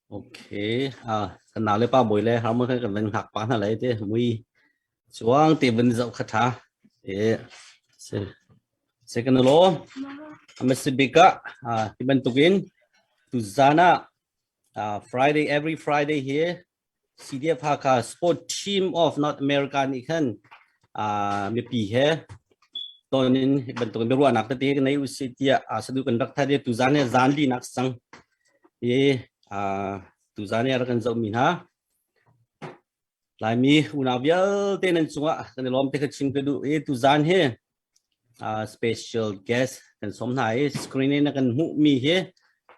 Okay, ah kan nau le pa bawi le har mo kan kan van hak pa hna lai te mui chuang te van zau kha tha e se se kan lo amesibika ah ti bantukin tu zana ah Friday every Friday here CDF Hakha Sports Team of North America nih khan mipi he ton in bantuk in biaruahnak tete kan nei usih tiah sadu kan rak thade tuzan he zan li nak sang i tuzan he rak kan zoh mi hna laimi unau vialte nan cungah kan i lawm te kha chim ka duh i tuzan he special guest kan som hna i screen in kan hmuh mi hi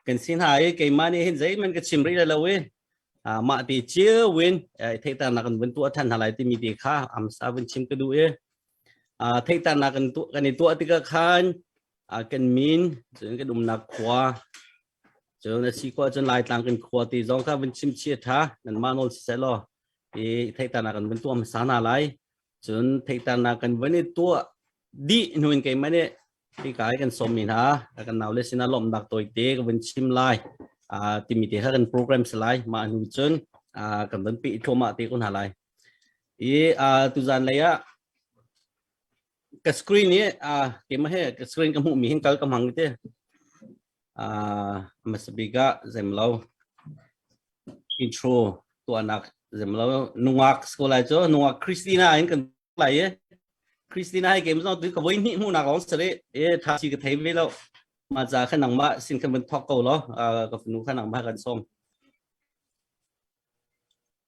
kan si hna i keimah nih hin zeihman ka chim rih lo i mah ti cio win theihternak kan vun tuah than hna lai timi ti kha amsa vun chim ka duh i theihternak kan kan i tuah tikah khan kan min cun kan umnak khua Cun a si khua cun Laitlang kan khua ti zong kha vun chim chi a ṭha nanmah nawl siseh law i theihtarnak kan vun tuah hmasa hna lai cun theihtarnak kan vun i tuah dih hnuin keimah nih hika i kan sawmmi hna kan naule sinah lawmhnak tawi te ka vun chim lai timi te kha kan program si lai mah hnu cun kan vun peh thluahmah te ko hna lai i tuzan lei ah ka screen i uh, keimah he ka screen ka hmuh mi hin kal ka hmang te uh, masabika zemlo intro tuanak zemlo nungak sekolah cu nungak Christina in kan lai e Christina hai game no tu ka voi ni mu nak long sare e tha chi ka thei ve lo ma za kha nang ma sin kan ban thok ko lo uh, ka funu kha nang ma kan song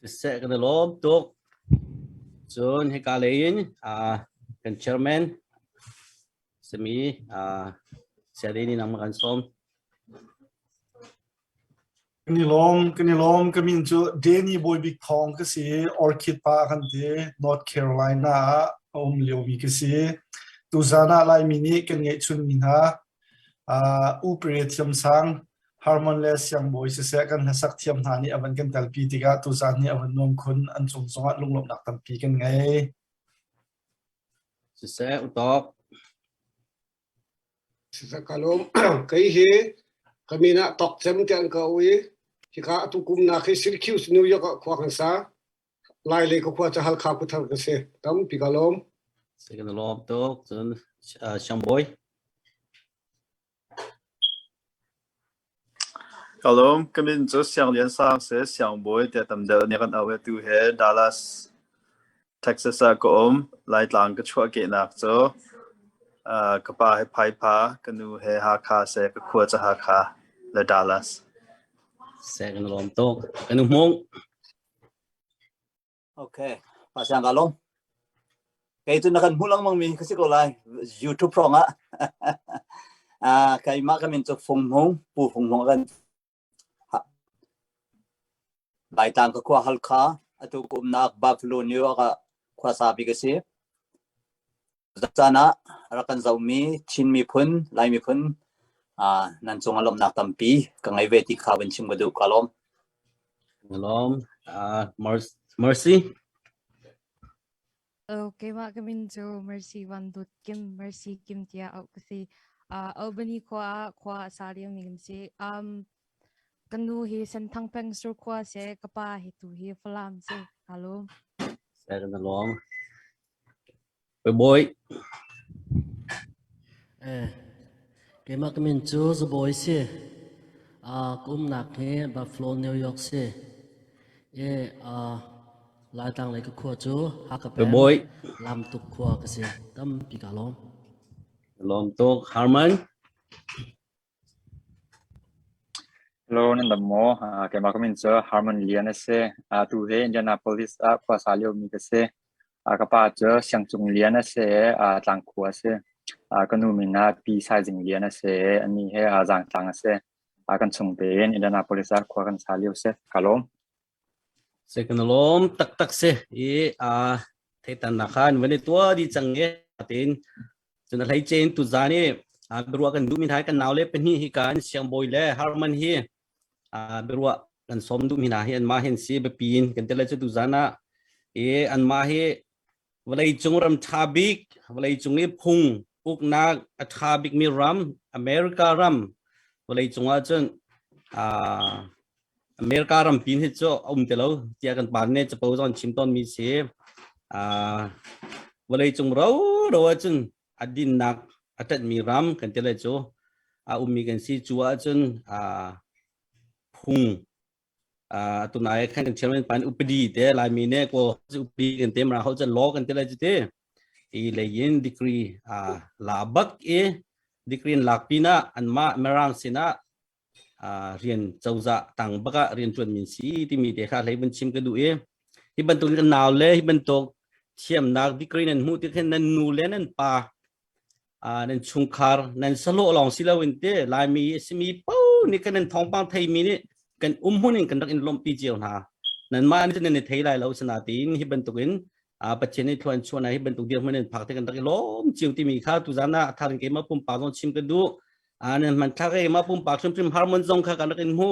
Siseh kan i lawm tuk. Cun hika lei in ah kan chairman simi ah Siadini nangmah kan sawm. Kan i lawm, kan i lawm. Ka min cu Danny Bawibik Thawng ka si. Orchid pa kan ti. North Carolina ah a um liomi ka si. Tuzaan ah Laimi nih kan ngeihchunmi hna uh, upare thiamsang Harmon le siangbawi siseh kan hlasak thiam hna nih a van kan telpi tikah tuzaan hi a van nuam khun. An cung zongah lunglawmhnak tampi kan ngei. Siseh utawk. Siseh kalum kai hi kamina tok cem te an kau i hika atu kumna khi Syracuse New York ah khua kan sa lai le ka khua cha hal kha kuthar ka se tam pi kalom Second lom tuk cun siangbawi. Ka lawm. Ka min cu Siang Lian Sang a si. Siangbawi tia tam deuh nih a kan auh i atu hi Dallas, Texas ah ka um. Laitlang ka chuahkehnak cu aa ka pa hi Phaipha, ka nu hi Hakha a si, ka khua cu Hakha le Dallas. Seh, ka na lawm tuk. Ka nu Hmung. Okay, pasiang ka lom. Kei tu na kan hmu lang mang mi ka si ko lai YouTube prong ah. Ah keimah kan min chu Fung Hmung, Pu Fung Hmung kan Bai tang ka khua hal kha atu kum nak bak lu ni ka khua sa bi ka si. Zan ah rak kan zohmi Chin miphun, Lai miphun nan cungah lawmhnak tampi ka ngei ve ti kha van chim ka duh ka lawm. Lawm. Uh, Mercy. Okay, mah kamin cu Mercy Van Dut Kim Mercy Kim tia au kasi. Uh, Albany khua khua sa liu ning si. Um, kanu hi senthang peng sur khua se kapa hi tu hi falam si. Halo. Saya na lawm. Keimah ka min cu Za Bawi si. Aa ka umnak hi Buffalo, New York si. I aa Laitlang lei ka khua cu Hakha peng, Lamtuk khua ka si. Tampi kaa lawm. Lawm tuk. Harman. Hello, nan dam maw? Ah, keimah ka min cu Harmon Lian a si. Ah, tu hi Indianapolis ah khuasa liomi ka si. Ah, ka pa cu Siangcung Lian a si i ah, Tlangkhu a si. Ah, ka nu min ah Pi Saizing Lian a si i anih hi ah Zangtlang a si. Ah, kan chung tein Indianapolis ah khua kan sa lio si. Ka lawm. Sik na lawm taktak si i aa theitan na khan van i tua di cang i tiin cun a hlei cein tu zan i aa biaruah kan duhmi hna hi kan nau le pahnih hi kan siangbawi le harman hi aa biaruah kan sawm duhmi hna hi anmah hi an si biapi in kan tel le cu tu zan ah i anmah hi vawleicung ram ṭha bik vawleicung i phung uknak a ṭha bikmi ram America ram vawleicung ah cun uh, America ram pin hi cu a um te lo tiah kan pan ne capo zon chim ton mi si uh, vawleicung ro ro ah cun a dinnak a tat mi ram kan te le cu a um mi kan si cu ah cun uh, phung Ah tunai khan kan chairman pan upadi te laimi ne ko upadi kan te mra ho jan law kan te lai te i leyin degree ah la bak e degree in lak pina an ma merang sina ah rian choza tang baka rian tuan min si ti mi te kha leiban chim ka du e hi bantuk kan naw le hi bantuk thiamnak degree nan mu ti khen nan nu le nan pa Ah, nan chungkhar nan salo long si lo in te laimi simi po ni kan nan thongpang thei mi ni kan um hun in kan rak in lompi cio hna nan ma ni nan ni thei lai lo sana tin hi bantuk in a pathian ni thluan chuana hi bantuk dir mun in phak te kan rak i lom chiu ti mi kha tu zan na atharin ke ma pum pa zon chim ka du a nan man kha ke ma pum pa chum chum har mun zong kha kan rak in hu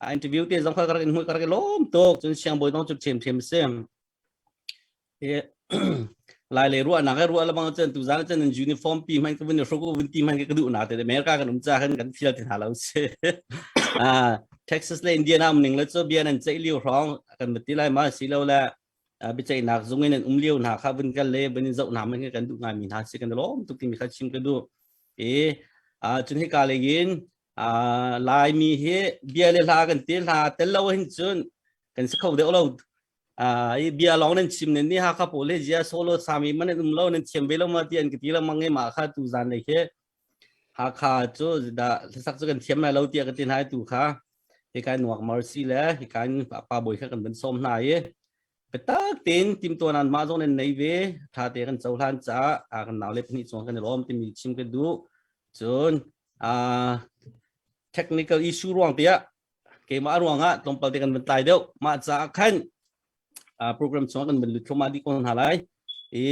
a interview te zong kha kan rak in hu kan rak i lom tok chun siang boi dong chum chem chem sem lai le ruah nak ruah lamang chan tu zang chan uniform pi man ka vun shoko vun ti man ka duh na te america kan um cha kan kan feel tin halo se a texas le indiana mning le cho bian an chai liu rong kan bati lai ma si lo la bi chai nak zung in um liu na kha vun kan le bani zau na man kan du nga mi na si kan lom tuk ti mi kha chim ka du e a chun hi ka le gin a lai mi hi bia le la kan ti la tel lo hin chun kan sa kho de lo Ah, i bia long nan chim nen ni ha kha po le jia solo sami man an um lo nan thiam ve lo ma ti an ti lo mang ma kha tu zan le ke ha kha chu da sak chu kan thiam na lo ti ka tin hai tu kha hi kai nuak mercy le hi kan pa boi kha kan ban som na ye petak tin tim to nan ma zong nan nei ve tha te kan chau hlan cha a kan naw le pni chong kan rom tim chim ke du chun ah technical issue ruang tia keimah ruangah tlawmpal te kan van tlai deuh mah caah khan program chung kan van lut thluahmah dih ko hna lai i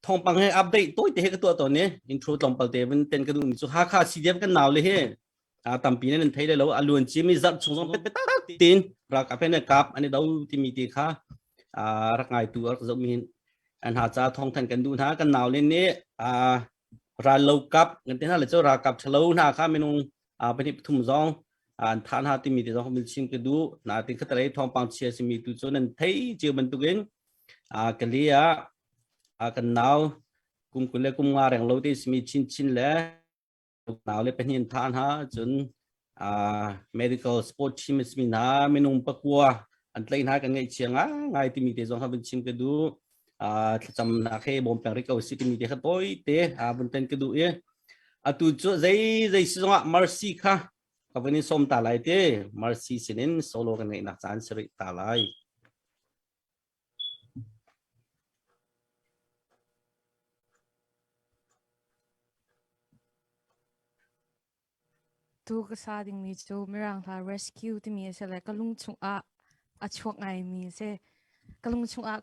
thawngpang he update tawite he ka tuah tawn ni intro tlawmpal te van ten ka duh ni cu hakha CDF kan nau le he tampi ne nan thei le lo aluan cim i zarh chung zong pet petak tin rak apen kap ani do timi ti kha rak ngai tu rak zoh min an ha cha thong than kan du hna kan nau le ni rallokap kan te hna le cu ralkap thalo hna kha minung pahnih pathum zong an tha hna timi te zong min sim ka du na tin khatarei thawngpang chia simi tu cu nan thei chiu bantukin ka li a kan nau kum kul le kum nga reng lo te simi chin chin le nau le pahnih tha hna cun uh, medical sport team a simi hna minung pakua an tlai hna kan ngaih chia ngai timi te zong kha vun chim ka du uh, thlacamnak he bawm peng rih ko si timi te kha toi te uh, vun ten ka du i atu cu zei zei si zongah mercy kha ka vun in som ta lai te mercy sinin solo kan ngaihnak caan si rih ta lai Tuu ka sa dingmi cu Mirang hla rescue timi a si le ka lung chungah a chuak ngaimi a si. Ka lung chungah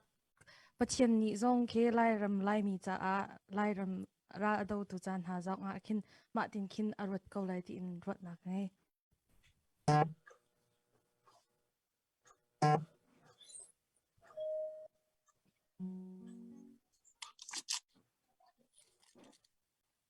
Pathian nih zong khi Lairam Laimi caah Lairam ral a dotu ca hna zong ah khin mah tin khin a ruat ko lai tiin ruahnak ka ngei.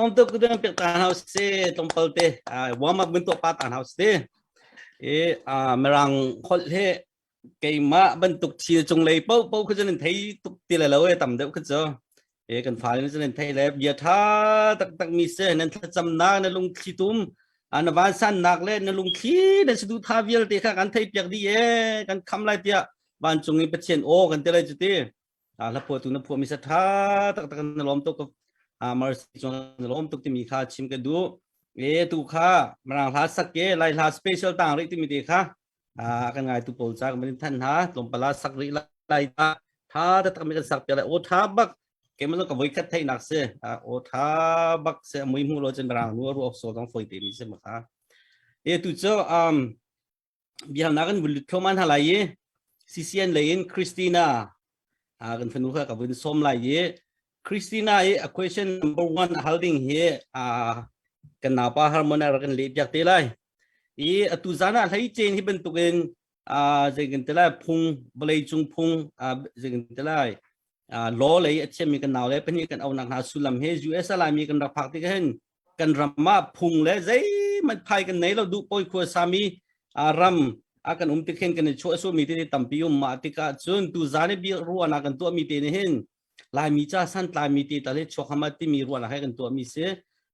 lom tuk tu bang pek ta hau si tlong pal te warm up bin to pa ta hau si e merang khol he keima bantuk thil chung lei po po khu jan thei tuk ti le lo e tam deuh khu cho e kan fale na zalen thei le bia tha taktak mi se nan thlacam na na lung thli tum an van san nak le na lung thli na sidu tha vial te kha kan thei piak di e kan kham lai pia van cung i pathian o kan te lai chu ti a la pho tu na pho mi sa tha tak tak na lom to ko a mercy chuan na lom tuk ti mi kha chim ka du e tu kha mrang hla sak ke lai hla special tang ri ti mi te kha a kan ngai tu pawl cha kan than ha tlawm pala sak ri lai ta tha ta tak mi kan sak pia lai o tha bak ke man ka voi khat thai nak se o tha bak se mui mu lo chen rang nu ru ok so dong foi te mi se ma kha e tu cho um biang na kan bulut kho man halai ye CCN lein Christina a kan fanu kha ka buin som lai ye Christina e a question number 1 holding he a kan na pa harmonize kan le piak te lai i atu zan ah hleicein hi bantukin zeikan te lai phung vawlei cung phung zeikan te lai law lei a thiammi kan nau le pahnih kan aunak hna sullam he US a laimi kan rak phak tik hin kan ram ah phung le zeimanh phai kan nei lo duh poi khua sami ram a kan um tik hin kan i chuah sumi te tampi um ma tikah cun tu zan i bia ruana kan tuahmi te ni hin Laimi ca santlami te ta le chuakham ah timi ruahnak he kan tuahmi si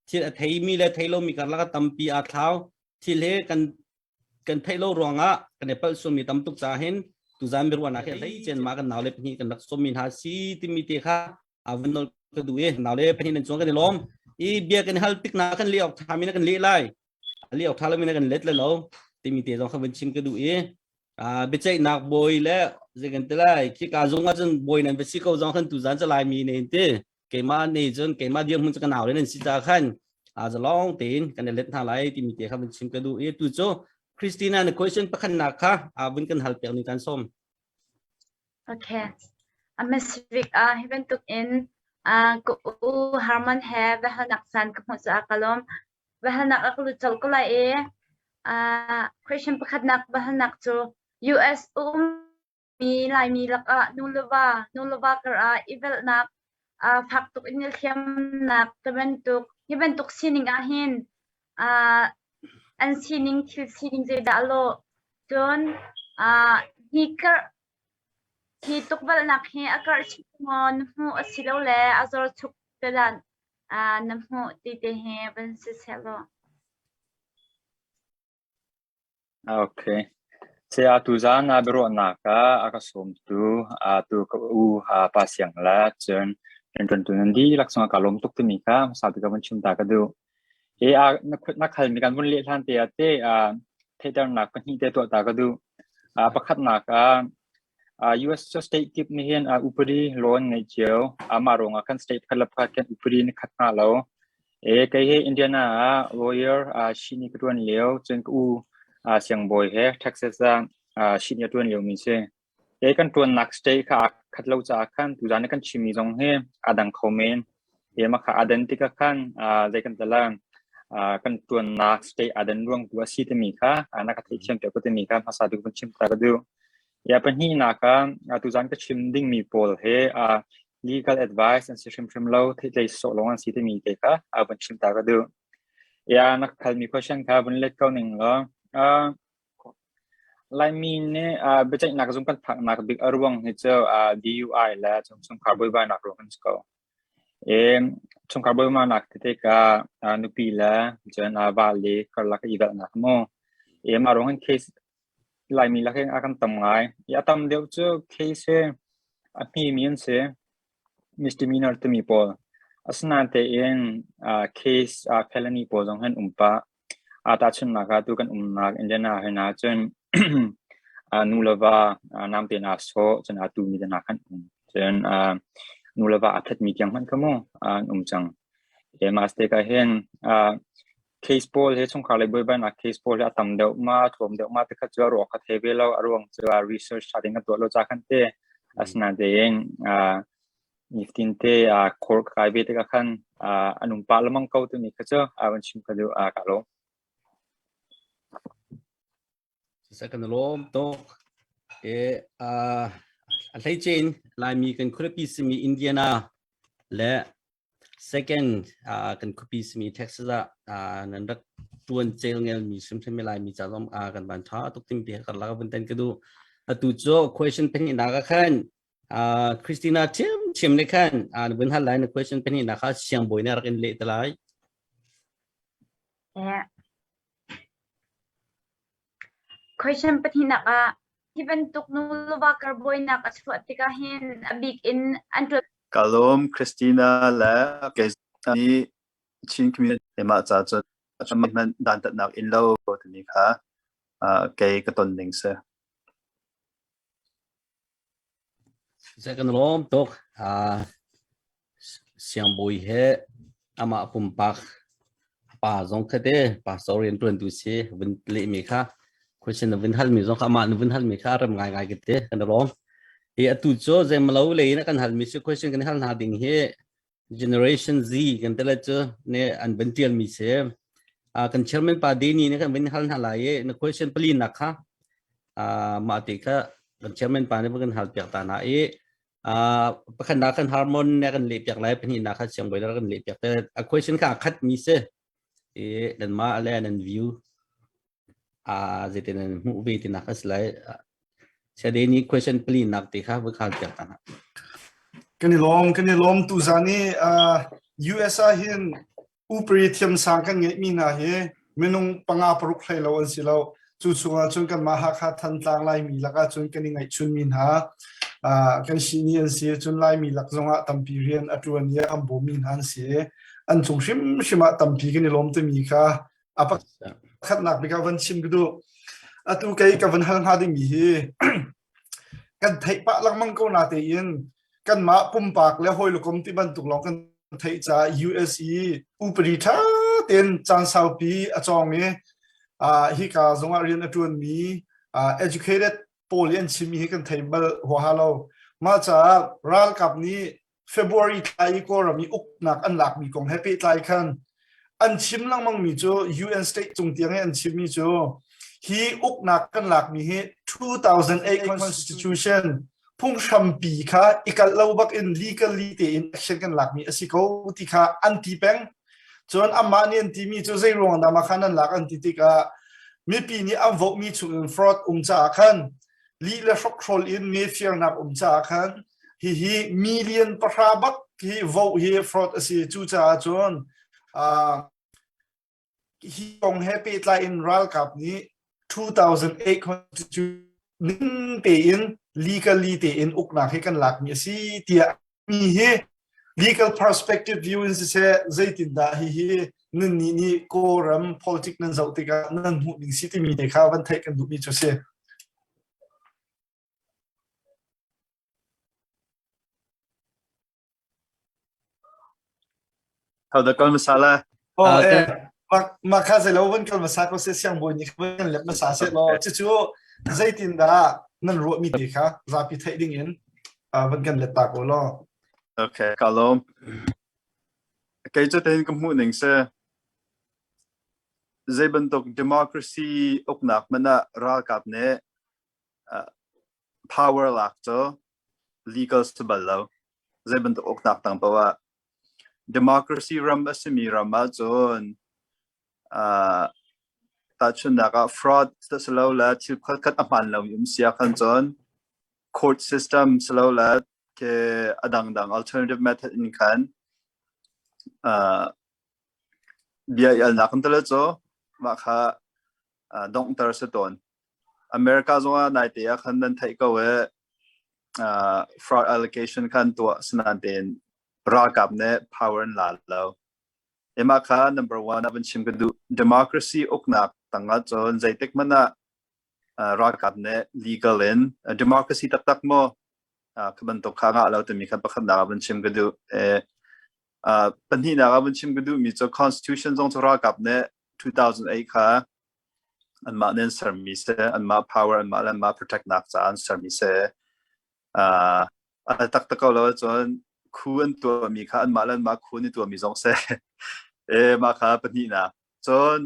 thil a theimi le thei lomi karlak a tampi aa thlau thil he kan kan theih lo ruangah kan i palh sawmi tam tuk caah hin tuzan biruahnak he hlei chen ma kan naule pahnih kan rak sawmi hna si timi te kha avun nol ka duh i naule pahnih nan chuan kan i lawm i bia kan hal tik na kan leh awk thami na kan leh lai a liau tha lomi na kan let le lo timi te zong kha van chim ka duh i biaceihnak bawi le zeikan te lai khi ka zung ah cun bawi nan va si ko zong khan tu zan ca lai mi ne ti keima ne cun keima dir mun ka naw len si ta khan a za long tein kan let hna lai timi te kha van chim ka duh i tu chu Christina na question pakhan nak kha a vun kan hal pek ni kan som Okay. A Misvik a hiban tuk in a ku u Harman he ve hanak san ka hmu sa kalom va halnak ah ka lut colh ko lai i question pakhatnak va halnak cu US a ummi Laimi lakah nuleva nuleva karah i velhnak uh, fak tuk in il thiamnak te bantuk hi bantuk sining ah hin uh, an sining thil sining zeidah lo cun uh, hnikar Hi tukvelhnak hi a karh chih tuk maw na hmuh asilole a zorchuk te lanh na hmuh ti te hi van si seh law. Ok. Saya atu zaan a biaruahnak ah a ka sawmtu atu ka u pa siang le cun rianṭuantu nan dihlak sungah kaa lawm tuk timi kha hmasabik ah van chim ta ka duh. He a na kut na khal mi kan vun leh hlan te ah te uh, theihternak pahnih te tuah ta ka duh. Uh, pakhatnak ah uh, US state kip ni hin uh, upadi loan ngai cio amah rong ah kan state khat la pakhat kan upadi ni khat na lo. E kai he Indiana ah lawyer uh, shini ka tuan leo chen ku uh, siang boy he Texas ah uh, shini tuan leo min si. Kei kan ṭuannak state kha aa khat lo caah khan tuzaan i kan chimmi zong hi aa dang kho men. Keimah kha aa den tikah khan aa zei kan tla lai. Aa kan ṭuannak state aa den ruangtu a si timi kha aa na ka theihthiampiak ko timi kha hmasa tuk vun chimter ka duh. Ia pahnihnak ah, aa tuzaan ka chim dingmi pawl he aa legal advice an si hrimhrim lo, theihtlei sawh lawng an si timi te kha aa vun chimter ka duh. Ia na ka halmi question kha vun let ko ning law, aa Laimi nih uh, biaceihnak zung kan phaknak bik a ruang hi cu uh, DUI le chungkhar buaibainak ruang an si ko. I chungkhar buaibainak tete ka uh, nupi le cun uh, vali karlak i dalnak mu. I mah ruang hin case Laimi lak hin a kan tam ngai. I a tam deuh cu case hi a hmi mi an si misdemeanor timi pawl. Asinain tein uh, case uh, felony pawl zong hin um pah. aa tahchunhnak ah tu kan umnak Indiana hrin ahcun aa nu le va aa naam tein aa sawh cun aa tu mi te hna khan um. Cun aa nu le va aa that mi tiang hmanh kha mu aa an um cang. Hi mah stake ah hin aa case pawl hi chungkhar lei buaibainak case pawl hi a tam deuh ma thuam deuh ma tikhat cu a ruak a thei ve lo a ruang cu a research tha tein a tuah lo ca khan te asinain tiin aa nifatinte ah khur kai ve tikah khan an um pah lengmang ko timi kha cu a van chim ka duh kaa lawm. Cusa kan lawm tuk. E, uh, a hleicein Laimi kan khuapi simi Indiana le second uh, kan khuapi simi Texas ah uh, nan rak tuan cel ngel mi sumsami Laimi ca zom uh, kan van tha tuk tim pe kar laka van tan ka du. Atu cu question peng ina ka khan Uh, Christina ṭhiamṭhiam nih khan uh, na vun hal lai na question pahnih na kha siangbawi nih rak in leh te lai. Yeah. Question pahnih nak ah hi bantuk nuluwa karbawi nak a chuah tikah hin a bik in an ṭuat Kalum Christina le Kezani Chin community mah ca cu man dan tatnak in lo tani kha kei ka ton ning se. Zei kan lawm tuk siangbawi he amah pumpak pa zong khatte pastor rianṭuantu si vun lehmi kha question na vun halmi zong kha amah na vun halmi kha rem ngaingai ka ti kan i lawm. Hi atu cu zeimalo lei in a kan halmi si question kan hal hna ding hi generation z kan tele chu ne an ban tial mi se a kan chairman pa de ni ne kan bin hal na lai e na question pali na kha a ma te kha kan chairman pa ne kan hal piak ta na e a pakhan na kan harmon ne kan le piak lai pani na kha siang boilar kan le piak te a question kha khat mi se e dan ma ale nan view uh, zeitin an hmuh ve tinak a si lai sade ni question pali nak te kha voi kha tiak ta na kan i lom kan i lom tu za ni US a hin upri thiam sang kan ngai mi na hi minung panga paruk hlai lo an si lo cu chunga chun kan ma ha kha than tlang lai mi laka chun kan i ngai chun min ha kan si ni an si chun lai mi lak zonga tampi rian atuan ye am bo min han si an chung shim shima tampi kan i lom te mi kha a pakhatnak bik ah van chim ka duh atu kei ka van hal hna dingmi hi kan theih pah lengmang ko na tein kanmah pumpak le hawilukom ti bantuk lawng kan theih ca USA upari tha ten caan saupi a cawng i hi ka zongah rian a tuan mi educated pawl hi an chim hi kan thei bal huaha lo ma ca ralkap nih February thla i Kawlram i uknak an lakmi kong he pehtlai khan an chim lengmangmi cu UN state cung tiang i an chimmi cu hi uknak kan lakmi hi 2008 constitution phunghrampi kha i kalh lo bak in legally tein action kan lakmi a si ko ti kha an ti peng cun amah nih an timi cu zei ruang dah khan an lak an ti tikah mipi nih an vohmi chungin fraud um caah khan lih le hrokhrol in mefirnak um caah khan Hihi million pahra bak hi vote hi fraud a si. Cucaah cun hi kong he pehtlai in ralkap nih 2008 constitution ning tein legally tein uknak hi kan lakmi a si tiah mi hi legal perspective view in siseh zeitindah hihi nan nih nih kawlram politic nan zoh tikah nan hmuh ning si timi te kha van theih kan duhmi cu si. Thau da kal hmasa lai. Aw e, mah kha zei lo van kal hmasa ko se siang buin ni kha kan lep hmasa se law cucu zeitin dah nan ruahmi te kha zapi theih ding in van kan let ta ko law. Okay, ka lom. Kei cu tein ka hmuh ning se zei bantuk democracy uknak mana ralkap ne power lak cu legal si bal lo. Zeibantuk uknak tang paoh ah. Democracy ram a simi ram ahcun tahchunhnak ah fraud si lo le thil khualkhat a hmaan lomi um si ahkhan cun court system si lo le ke a dangdang alternative method in khan bia i alnak kan tilo cu mah kha donghter si tawn. America zongah naite ah khan nan theih ko e fraud allocation khan tuah sinan tein ralkap ne power in la lo. Ema kha number one abin chim ka du democracy uknak tanga chon zeitek mana ralkap ne legal in democracy tak tak mo kaban tok kha nga lo te mi khan pakhat na abin chim ka du e pahnih na abin chim ka du mi cho constitution zong chu ralkap ne 2008 kha anmah nih an sermi si, anmah power, anmah le anmah protectnak caah an sermi si. Uh, a tak tak ko lo ahcun khu an tuahmi kha anmah le anmah khu an i tuahmi zong si. e mah kha pahnihnak. Cun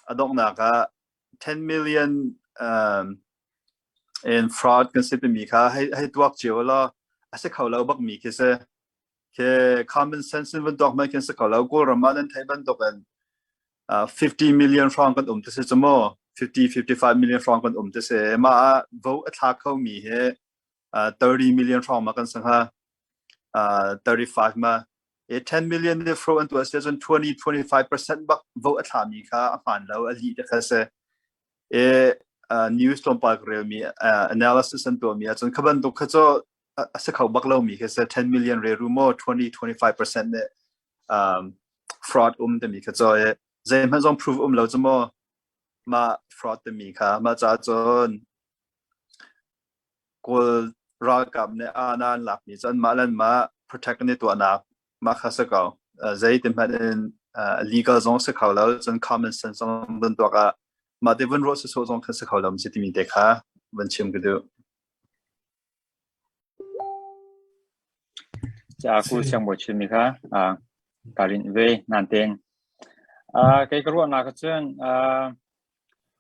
a donghnak ah 10 million um, in fraud kan si timi kha hei, hei tuak cio lo a si kho lo bakmi khi si khi common sense in van dok mai kan se ko lo Kawlram ah nan thei bantuk in 50 million franc kan um te se chamo 50 55 million franc kan um te se ma vote a tha kho mi he 30 million franc ma kan sanga 35 ma e 10 million ne fro an tu se chon 20 25% bak vote a tha mi kha a man lo a li te kha se e news lom pa rel mi analysis an to mi a chon khaban duk kha cho a si kho bak lomi khi si 10 million reru maw 20-25 percent nih um, fraud um timi kha cho i zeihmanh zong prove um lo cu maw mah fraud timi kha mah ca cun kawl ralkap nih anan lakmi cun mah lan mah protect ni tuahnak mah kha si ko zei ti hmanh in legal zong si kho lo cun common sense zong vun tuak ah mah te vun ruah si so zong kha si kho lo mi si timi te kha vun chim ka duh Caku siangbawi chimmi kha ka rinh ve natein kei ka ruahnak ahcun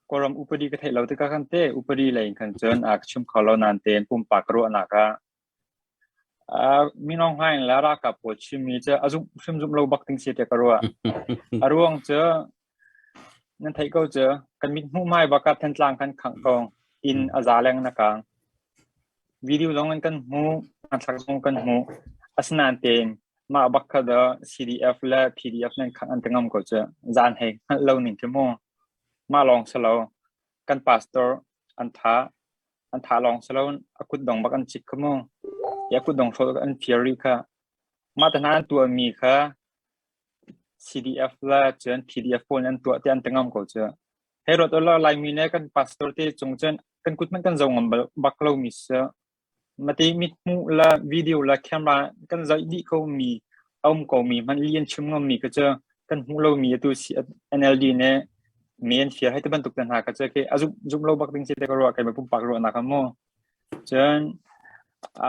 Kawlram upadi ka theih lo tikah khan teh upadi lei in khan cun ka chim kho lo natein pumpak ka ruahnak ah Mino Hnaing le ralkap pawl chimmi cu a zumh hrimzumh lo bak ding si tiah ka ruah. A ruang cu Nan theih ko cu, kan mithmuh hmaibak ah Thantlang kan khangh ko, inn a za leng na kaang. Video zong in kan hmuh, hmanthlak zong kan hmuh. Asinain tein mah bak kha do CDF le PDF nan khangh an ti ngam ko cu. Zan hei hngalh lo ning khi mu. Mah lawng si lo, kan pastor an tha, an tha lawng si lo, a kutdong bak an cik khi mu. I a kutdong hrawt an phir rih kha. Mah te hna an tuahmi kha PDF le cun PDF pawl nih an tuah tiah an ti ngam ko cu. Hei ruat ulaw Laimi le kan pastor te cung cun kan kut hmanh kan zo ngam bak lomi si. Mate mithmuh le video le camera kan zoih dih komi a um komi hmanh li an chim ngammi kha cu kan hmuh lomi atu si NLD nih mi an fir hei ti bantuk te hna kha cu khi a zumh zumh lo bak ding si te ka ruah kai ma pumpak ruahnak a mu. Cun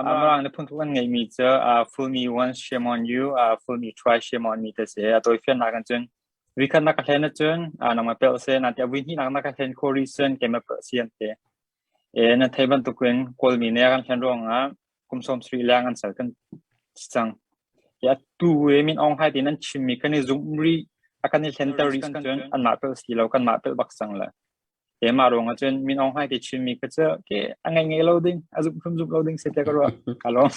Mirang nih phunthuk an ngeihmi cu Full Me Once Shame On You, Full Me Twice Shame On Me ti a si i a tawifiannak in cun vuikhat na ka hlen ahcun nangmah pelh seh na ti. A vuihnih nak na ka hlen khawh rih cun keimah pelh si an ti. I nan theih bantuk in Kawlmi nih a kan hlen ruangah kum sawmsarih leng an ser kan si cang. I atu i Min Aung Hlaing tiin an chimmi kan i zumh rih, a kan i hlenter rih cun anmah pelh si lo, kanmah pelh bak cang le. Keimah ruangah cun Min Aung Hlaing ke chimmi kha cu ke a ngaingai lo ding, a zumhrim zumh lo ding si te ka ruah. Ka lawm.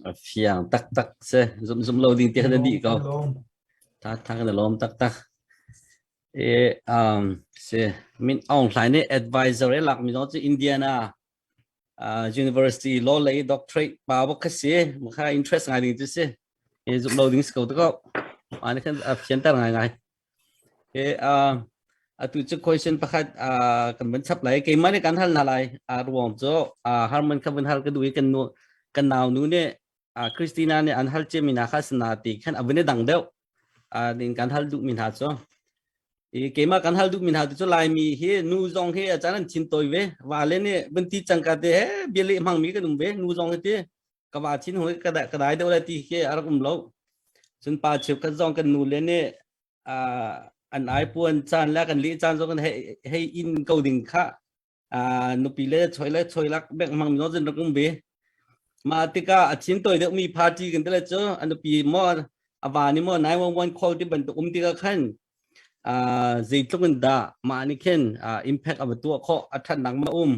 A fiang taktak si. Zumh zumh lo ding ti kha na dih ko. Taktak na lawm taktak. E um si Min Aung Hlaing nih advisor e lak mi zong cu Indiana university law lei doctorate pa bok kha si maka interest ngai ding tu si e zuk lo ding sko to ko ani khan fian tar ngai ngai e atu chu question pakhat kan ban chap lai ke mane kan hal na lai ruang cho harman kha ban hal ka du kan nu kan nau nu ne Christina nih an hal ciami hna kha sana ti khan a vun i dang deuh din kan hal duhmi hna cu i keimah kan hal duhmi hna tu cu laimi hi nu zong hi a can an thin toi ve wa le nih vun ti cangka te he bia le hmangmi kan um ve nu zong hi ti ka wa thin hoi ka ka dai deuh le ti khi a rak um lo cun pa cheu kan zong kan nu le nih an ai puan caan le kan li caan zong kan hei in ko ding kha Ah nupi le choi le choi lak bek mang mi no zin rak um bi ma tika a chin toy deuh mi party kan tele chu an nupi mo awa ni mo 911 call ti ban tu um tika khan ah zeitluk in da ma ni khen ah impact ava tu kho a that nak ma um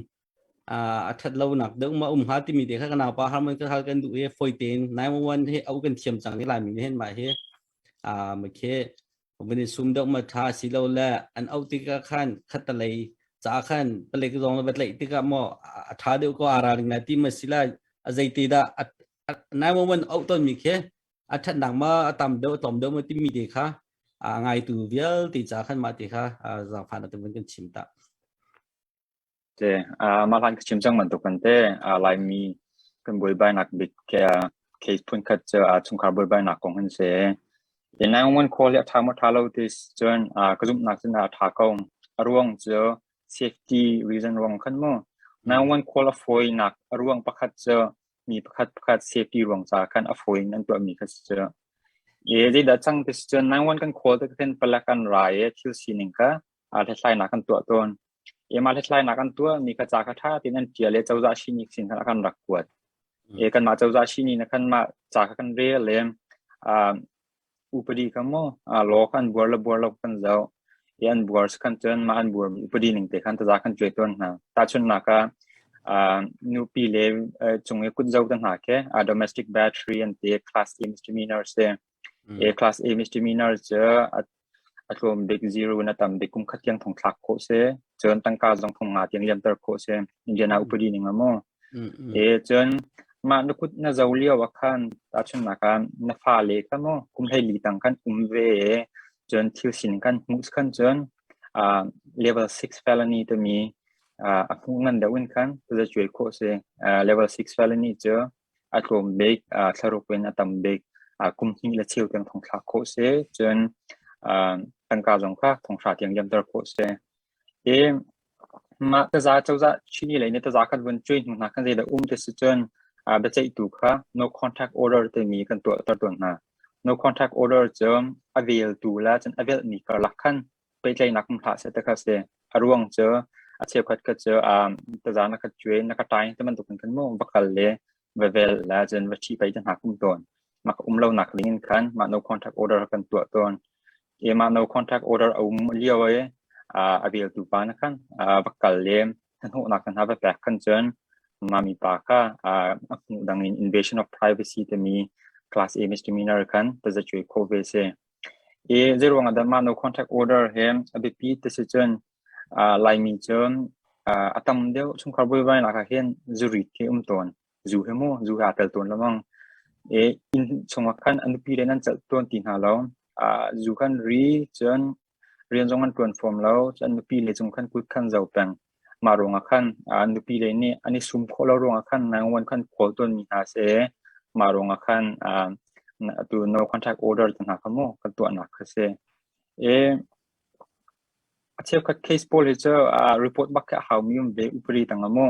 ah a that lo nak deuh ma um ha ti mi de kha kana pa harmon ka hal kan du e foi ten 911 hi au kan thiam chang ni lai mi hen ma hi ah ma khe kan i sum deuh ma tha si lo le an auh tikah khan khatalei ca khan palik zong le va tlaih tikah maw a tha deuh ko ara ring na ti ma sila a zeiti dah nai wan wan auh ton mi khi a that nak ma a tam deuh tom deuh ma ti mi te kha a ngai tu vial ti ca khan ma ti kha zangfan atum kan chim ta Te, ah mah hlan ka chim cang bantukin te ah Laimi kan buaibainak bik ah case phunkhat cu ah chungkhar buaibainak kong an si. I 911 call hi a ṭha maw ṭha lo ti si cun ah ka zumhnak cu na a ṭha ko. A ruang cu safety reason ruang khan maw 911 call a fawinak a ruang pakhat cu mi pakhat pakhat safety ruang caah khan a fawi in an tuahmi kha si cu. I zeidah cang ti si cun 911 kan call te kha khin palek an ra i thil sining kha hlathlainak kan tuah tawn. Emah hlathlainak an tuahmi ka ca kha ṭha tein an ṭial i cozah sihni sin khan a kan rak kuat. Mm. E, kanmah cozah sihni na kanmah ca kha kan rel leng. Uh, upadi kha mu uh, law kha an buar le buar lo kan zoh i an buar si khan cun mah an buar upadi ning te khan taza kan cuai tawn hna tahchun na ka nupi le cung i kut zo te hna ke domestic battery an te class teams ṭimi nurse te A-class English demeanor cu a tlawm bik zero in a tam bik kum khat tiang thong thlak khawh si. Cun tangka zong thong nga tiang liamter khawh si. Indian ah upadi ning a maw. Cun mah na kut na zo lio ah khan tahchunnak ah na fale kha maw kum hlei li tang khan um ve cun thil sin kan hmuh khan cun level six felony timi a hmuh ngan deuh in khan tazacuai khawh si. Level six felony cu a tlawm bik, aa thlaruk in a tam bik, aa kum hnih le cheu tiang thong thlak khawh si. Cun aa tangka zong kha thonghra tiang liamter khawh si. Hi mah taza cozah Chini lei nih taza kan vun cuai hnu hna khan zeidah um ti si cun aa biaceihtu kha no contract order timi kan tuahter tawn hna. No contract order cu a veltu le cun a velhmi karlak khan pehtlaihnak hmu hlah seh ti kha a si. A ruang cu a cheukhat kha cu um, tazan na kha cuai na kha ṭai ti bantukin khan maw va kal le va vel le cun va ṭhi pei ti hna kum tawn. Mah ka um lonak ning in khan mah no contract order kan tuah tawn. E mah no contract order a um lio i uh, a veltu pa na khan uh, va kal le thanhawhnak khan hna va pek khan cun mami pa kha uh, a hmuh dang in invasion of privacy timi class A Misdemeanor khan taza cuai khawh ve si. i zeiruangah dah mah no contract order hi a biapi ti si cun laimi cu a tam deuh chungkhar vuivai nak ah hin zurit hi um tawn zu hi mu zu hi aa tel tawn lemang i inn chungah khan a nupi le nan celh tawn ti hna lo zu kan ri cun rian zong an ṭuan fawm lo cun nupi le cung khan kut khan zo peng Mah ruangah khan an nupile nih an i sum khawh lo ruangah khan Nine-One khan khawl tawnmi hna seh, mah ruangah khan atu no contract order te hna kha mu kan tuahnak kha si. I a cheukhat case pawl hi cu report bak khi a haumi um ve upadi tang a mu.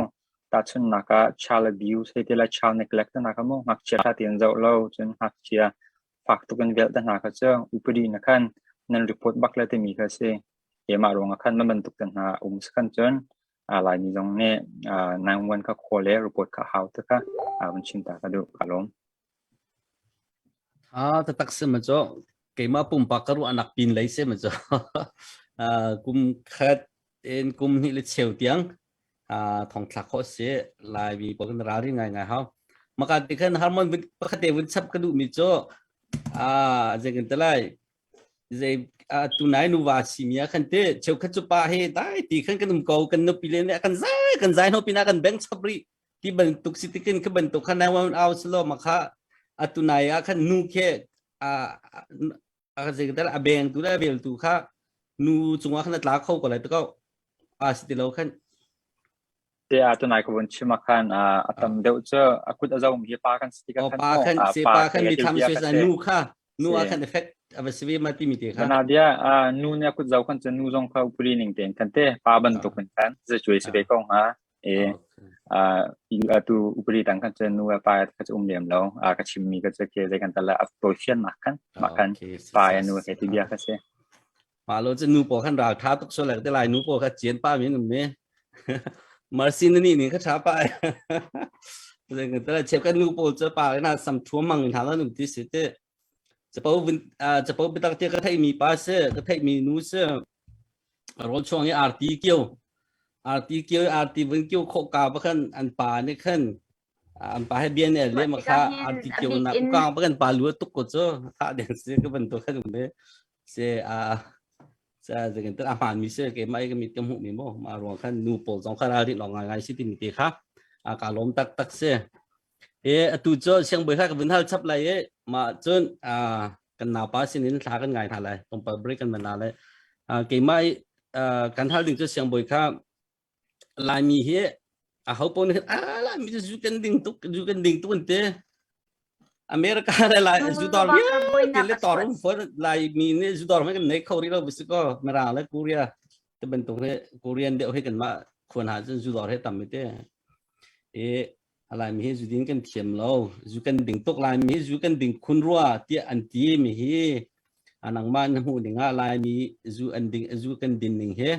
Tahchunhnak ah child abuse hei ti lai child neglect hna kha mu ngakchia ṭha tein zoh lo cun ngakchia fak tuk in velh te hna kha cu upadi na khan nan report bak le timi kha si keimah ruangah khan man bantuk te hna um si khan cun laimi zong nih 911 kha khaw le report kha hau te kha vun chim ta ka duh ka lawm a tatak se ma cho keimah pumpak ka ruah nak pin lei se ma cho kum khat Tein kum hnih le cheu tiang ah thong thlak khawh si Laimi pawl kan ralri ngaingai hau. Maka ti khan harmon pakhate vun chap ka duh mi cu ah zei kan te lai zei tu nai nu va si mia kan te cheu khat cu pa he dai ti khan kan um ko kan no pi le kan zai kan zai no pina kan beng chap ri ti ban tuk si tikin ka ban tuk khan ai wan au slo maka atu nai a khan nu ke a a zeker a bengtu le veltu kha nu cungah khan tla kho ko lai to ko a si ti lo khan te a tunai ko bun chima khan a tam deuh chu a kut a zong mi pa kan si ka pa kan se pa kan mi tham se sa nu kha nu a kan effect a va sivi ma ti mi te kha na dia nu ne kut zau kan chu nu zong kha upuri ning ten kan te pa ban to kan kan ze chui se be ko ha i atu upadi dang kan cu nu pa ka cu um lem lo a ka chim mi ka cu ke zei kan tal a tawi fian mak kan mak kan pa ya nu he ti bia ka si ma lo cu nu po kan ral tha tuk so lak te lai nu po ka chien pa min me marsin ni ni ka tha pa zai kan tal chep kan nu po cu pa na sam thuam mang na la nu ti si te capo capo bitak te ka theimi pa se ka theimi nu se rol chuang i arti kio arti kio arti vun kio kho ka bakhan an pa ne khan an pa he bian e le ma kha arti kio na ku ka bakhan pa lu tuk ko cho kha den se ka ban to khan me se a sa zegen ta aman mi se ke mai ke mi tum hu mi mo ma ruang khan nu pol jong khan ari long ngai si tin te kha a ka lom tak tak se Hi atu cu siangbawi hla ka vun hal chap lai i mah cun ah kan naupa sinin thla kan ngai hna lai tlawmpal break kan man na lai uh, keimah i uh, kan hal ding cu siangbawi kha Laimi hi a ho pon khan ah Laimi cu zu kan ding tuk zu kan ding tuk an te America le lai zu dor ri te le tor fu Laimi ne zu dor ma kan nei kho ri lo bu ko mera le Korea te bantuk ne Korean de oi kan ma khon ha cun zu dor he tam te e A Laimi hi zu din kan thiam lo. Zu kan ding tuk Laimi zu kan ding khun rua tiah an ti mi hi nangmah na hmuh ding ah Laimi zu an ding zu kan din ning hi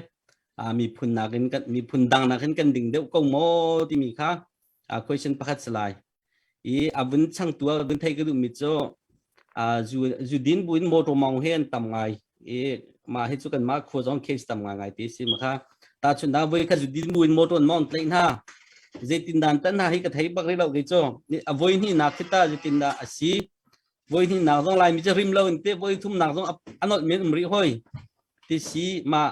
miphun nakin kan miphun dang nakin kan ding deuh ko maw timi kha question pakhat si lai. I a vun changtu a vun thei ka duh mi cu zudin buin motor mong he an tam ngai i ma hi chu kan ma khua zong case tam ngai ngai ti si ma kha ta chun na voi kha zudin buin motor mong tlai na zeitin dan tan ha hi ka thei bak ri lo ke cho a voi ni nak khita zeitin da asi voi ni nak zong lai mi cha rim lo in te voi thum nak zong anot men umri hoi ti si ma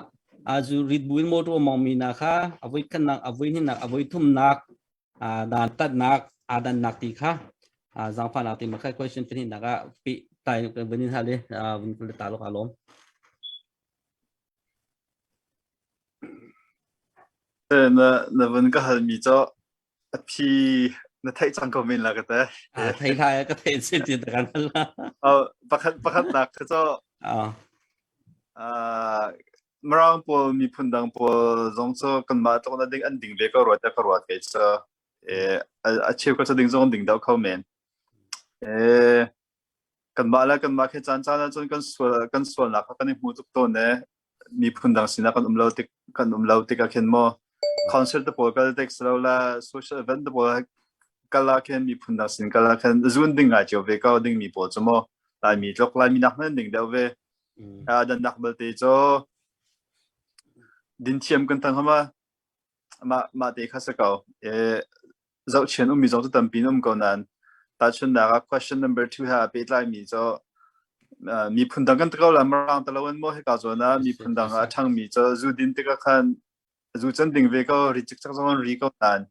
azu rit buin motor mong mi na kha avoi khan nak avoi ni nak avoi thum nak dantatnak aa dannak ti kha zaangfahnak ti makhat question pahnih nak ah pi tai vun in hal i vun kul ta lo ka lom na na vun ka hal mi cho a phi na thei chang ko min la ka te thei la ka thei sin ti ta kan pakhat pakhat nak ka cho Mirang pawl miphun dang pawl zong cu kanmah tluk na ding an ding ve ko rua tiah ka ruat kei cu. Eh, a, a cheu ka cu ding zong an ding deuh kho men. Eh, kanmah le kanmah khi caan caan ahcun kan sual kan sualnak kha kan i hmu tuk tawn e. Miphun dang sinak kan um lo tik kan um lo tikah khin maw concert te pawl kal tek si lo la social event te pawl kal la khin miphun dang sin kal la khin zun ding ngai cio ve ko ding mi pawl cu maw Laimi tluk Laimi nak nan ding deuh ve dannak belte cu dinthiam kan tang hama ma ma te kha se ko e zohchian ummi zong cu tampi um ko nan tachunnak ah question number 2 ha pe tlai mi cho miphun dang kan takaw la marang talawan mo he ka zo na miphun dang a thang mi cho zu din tika khan zu chan ding ve ko ri chik chak zong ri ko tan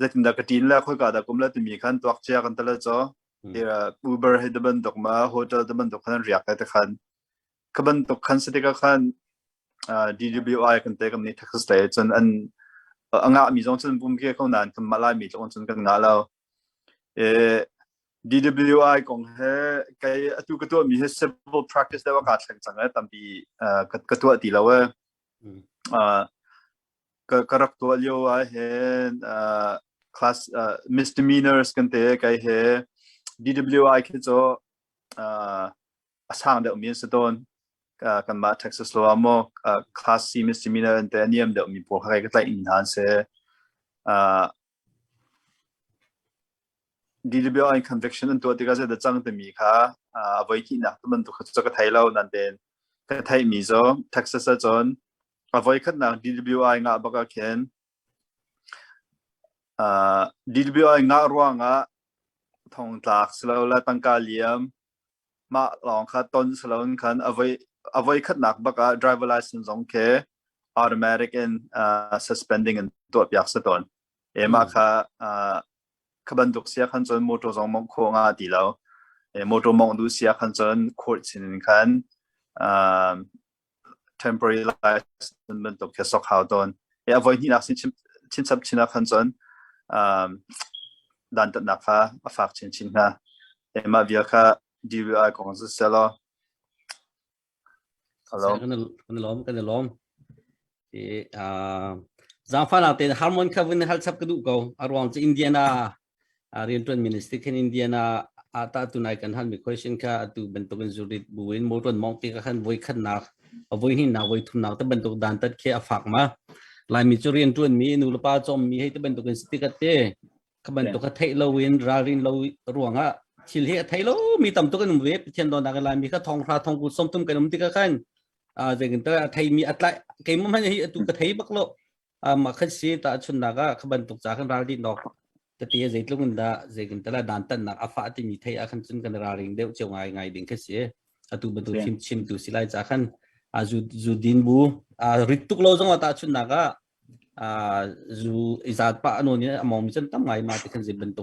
Zeitindah ka ṭin le khoika dah kum le timi khan tuak cia kan tala caw. Ti Uber hi te bantuk ma hotel te bantuk khan riak te khan. Ka bantuk khan se tikah khan DWI kan te kam nih Texas te cun an a ngah mi zong cun pum kia kho nan kan malai mi tlong cun kan ngah lo. E DWI kong he kai atu ka tua mi he civil practice da wa ka thleng chang e tampi ka tua ti lo e. ka rak tuah lio ah hin uh, class uh, misdemeanors kan te kai he DWI khi cu uh, a sang deuh mi si tawn kan mah Texas lo mo class C misdemeanor an te niam deuh mi pawl kai ka tlai in han se uh, DWI conviction an tuah tikah zai da chang te mi kha uh, voi ki nak tu ban tu kha ka thai lo nan den ka thai mi zo Texas a chon a voikhatnak DWI ngah bak ah khin uh, DWI ngah ruangah thongtlak silo le tangka liam ma lawng kha ton silo in khan avoi avoi khatnak baka driver license zong ke automatic in uh, suspending in tuah piak sa ton ema kha uh, khabantuk sia khan chon motor zong mong kho nga ti lo e motor mong du sia khan chon court sin khan uh, temporary license bantuk khi a sok hau tawn. A voihnihnak chinsap chinah khan cun dantatnak kha a fak chinchin hna. Mah vial kha DVI kong si seh law. Hello. Kan i lawm, kan i lawm. Zangfa nak te harmon khavin hal chap ka du ko. A ruang cu Indiana uh, riantuan minister khen indian a a ta tu nai kan hal mi question ka atu bantuk in zurit bu in motor mong ti ka khan voi khat na a voi hin na voi thum na ta bantuk dan tat khe a fak ma lai mi chu rian tuan mi nu pa chom mi hei ta bantuk in stikat te ka bantuk ka thei lo in rarin lo ruanga thil he thei lo mi tam tuk in ve pathian don da lai mi ka thong ra thong ku som tum kan um ti ka khan a jekin ta thei mi atlai ke mum han hi atu ka thei bak lo Um, a khat si tahchunnak ah kha bantuk ca kan ral dih nok tati a zeitlung in dah zei kan tala dan tannak a fa timi thei a khan cun kan raling deuh cheu ngai ngai ding kha si atu batu thim chim tu silai ca khan a zu zu din bu a rit tuk lo zong ta chunnak a a zu izat pa anon in among mi chan tam ngai ma ti khan zin bantuk